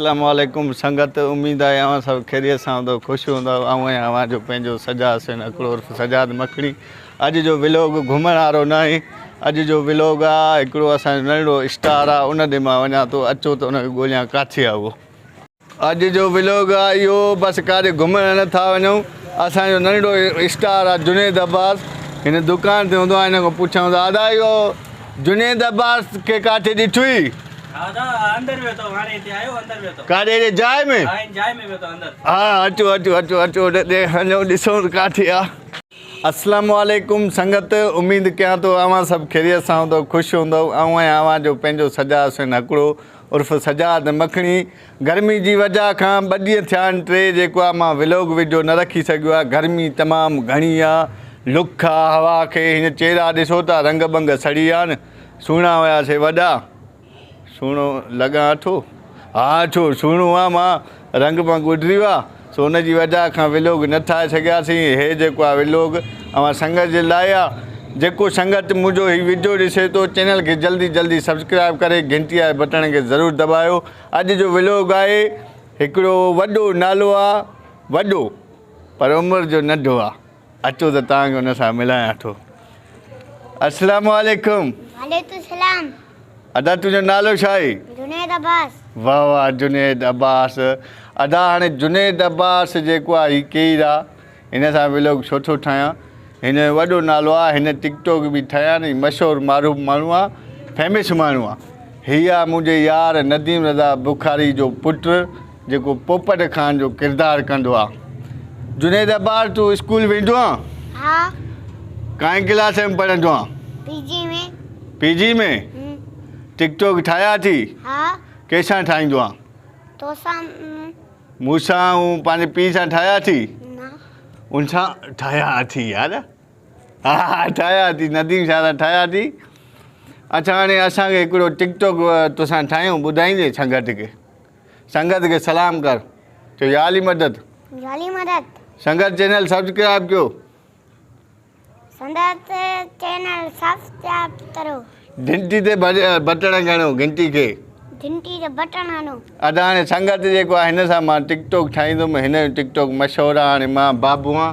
اسلام عليڪم سنگت اميد آهي اوهان سڀ خيريت سان هوندؤ خوش هوندؤ آئون آهيان اوهان جو پنهنجو سجاد حسين اڪڙو عرف سجاد مکڙي اڄ جو ولوگ گهمڻ وارو نه آهي اڄ جو ولوگ آ هڪڙو اسان جو ننڍڙو اسٽار آ ان ڏي مان وڃان ٿو اچو ته ان کي ڳوليان ڪاٿي آ اهو اڄ جو ولوگ آ اهو بس ڪاڏي گهمڻ نه ٿا وڃون اسان جو ننڍڙو اسٽار آ جنيد عباس هن دڪان تي هوندو آ هن کان پڇيائون ته ادا اهو جنيد عباس کي ڪاٿي ڏٺوئي. ڪاڏي اهڙي جاء ۾. ها اچو اچو اچو اچو هنيو ڏسون ته ڪاٿي آ. اسلام عليڪم سنگت اميد ڪيان ٿو اوهان سڀ خيريت سان هوندؤ کش هوندؤ آئون آهيان اوهان جو پنهنجو سجا حسين هڪڙو عرف سجاد مکڻي گرمي جي وجع کان ٻه ڏينهن ٿيا آهن ٽي جيڪو آ مان ولوگ وڊيو نه رکي سگهيو آهي گرمي تمام گهڻي آ لک آ هوا کي هن چيرا ڏسو ٿا رنگ بنگ سڙي ويا آهن سهڻا هيا سي وڏا، سهڻو لڳان اٺو، ها اٺو سهڻو آ مان، رنگ مان ڳوڏريو آ، سو ان جي وجه کان ولوگ نه ٺاهي سگهياسين، هي جيڪو آ ولوگ اوهان سنگت جي لاء آ، جيڪو سنگت منهنجو هي وڊيو ڏسي ٿو چينل کي جلدي جلدي سبسڪرائيب ڪري گهنٽي واري بٽڻ کي ضرور دٻايو، اڄ جو ولوگ آهي هڪڙو وڏو نالو آ وڏو پر عمر جو ننڍو آ. اچو ته توهان کي ان سان ملايان ٿو. السلام عليڪم. وعليڪم السلام. ادا تنهنجو نالو ڇا آهي؟ جنيد عباس. واھ واھ جنيد عباس. ادا هاڻي جنيد عباس جيڪو آهي هي ڪير آهي؟ هن سان ولاگ ڇو ٿو ٺاهيان؟ هن جو وڏو نالو آهي هن ٽڪ ٽوڪ به ٺاهي آهي ۽ مشهور معروف ماڻهو آهي فيمس ماڻهو آهي. هي آهي منهنجي يار نديم رضا بخاري جو پٽ. جيڪو پوپٽ خان جو ڪردار ڪندو آ جنيد ابار تو اسڪول ويندو آ ها ڪائين ڪلاس ۾ پڙهندو آ پي جي ۾ پي جي ۾ ٽڪ ٽوڪ ٺاهيا ٿي ها ڪيسان ٺاهيندو آ توسان مونسان هون پنهنجي پي سان ٺاهيا ٿي نا ان سان ٺاهيا ٿي يار ها ٺاهيا ٿي نديم شاهرا ٺاهيا ٿي اچھا هاڻي اسان کي هڪڙو ٽڪ ٽوڪ توسان ٺاهيون ٻڌائيندي سنگت کي سنگت کي سلام ڪر چو يا علي مدد يا علي مدد سنگت چينل سبسڪرائب ڪيو سنگت چينل سبسڪرائب ڪرو گھنٽي تي بٽڻ گھڻو گھنٽي کي گھنٽي تي بٽڻ گھڻو ادا هاڻي سنگت جيڪو آهي هن سان مان ٽڪ ٽوڪ ٺاهيندم هن جو ٽڪ ٽوڪ مشهور آهي هاڻي مان بابو آهان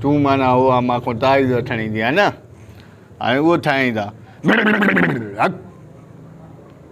تون معنی هو آهان مان کان تعويذ وٺڻ ايندي آهي نه هاڻي اهو ٺاهيندا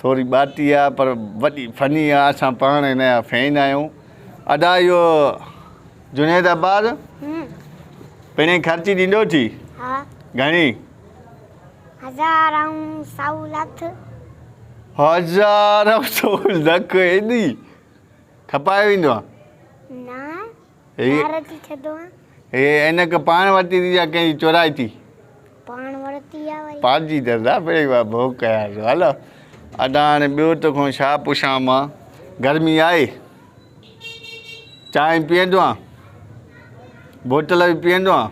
ٿوري ٻاٽي آ پر وڏي فني آ اسان پاڻ هن جا فين آهيون ادا اهو جنيد عباس پڻي خرچي ڏيندو ٿي ها گهڻي هزار ۽ سو لک هزار ۽ سو لک ايڏي کپائي ويندو آ نه هي عينڪ پاڻ ورتي ٿي يا ڪنهن جي چورائي ٿي؟ پاڻ ورتي آ وئي. پاڙجي دردا پڙي وا ڀوڪ يار والا ادا هاڻي ٻيو تو کان ڇا پڇان مان گرمي آهي چانهه پيئندو آ بوتل به پيئندو آ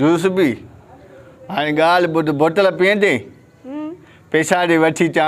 جوس به هاڻي ڳالهه ٻڌ بوتل پيئندين پيسا ڏي وٺي چا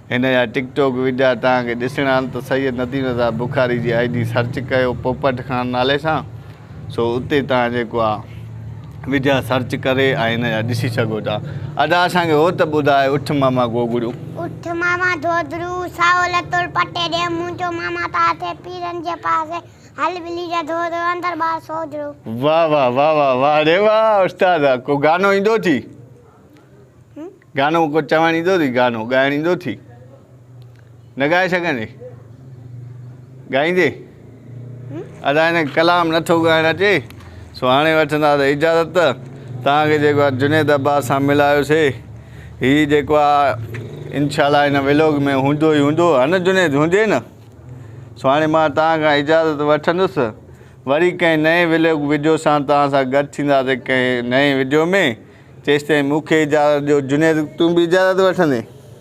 هن جا ٽڪ ٽوڪ وڊيا توهان کي ڏسڻا آهن ته سيد نديم رضا بخاري جي آئي ڊي سرچ ڪيو پوپٽ خان نالي سان سو اتي توهان جيڪو آ وڊيا سرچ ڪري ۽ هن جا ڏسي سگهو ٿا ادا اسان کي هو ته ٻڌاء اٺ ماما گوگڙو. اٺ ماما ڌوڌڙو سائو لتول پٽي ڏي منهنجو ماما ته اٿي پيرن جي پاسي هل ٻلي جا ڌوڌڙو اندر ٻاهر سوجهڙو. واھ واھ واھ واھ واھ ڙي واھ استاد ڪو گانو ايندو ٿي. گانو ڪو چوڻ ايندو ٿي گانو ڳائڻ ايندو ٿي نه ڳائي سگهندي ڳائيندي ادا هن ڪلام نٿو ڳائڻ اچي سو هاڻي وٺندا ته اجازت تان کي جيڪو آ جنيد عباس سان ملايو سي هي جيڪو آ انشاء الله هن ولاگ ۾ هوندو ئي هوندو هن جنيد هوندي نه سو هاڻي مان تان کان اجازت وٺندس وري ڪنهن نئين ولوگ وڊيو سان توهان سان گڏ ٿينداسين ڪنهن نئين وڊيو ۾ تيستائين مونکي اجازت ڏيو جنيد تون به اجازت وٺندين.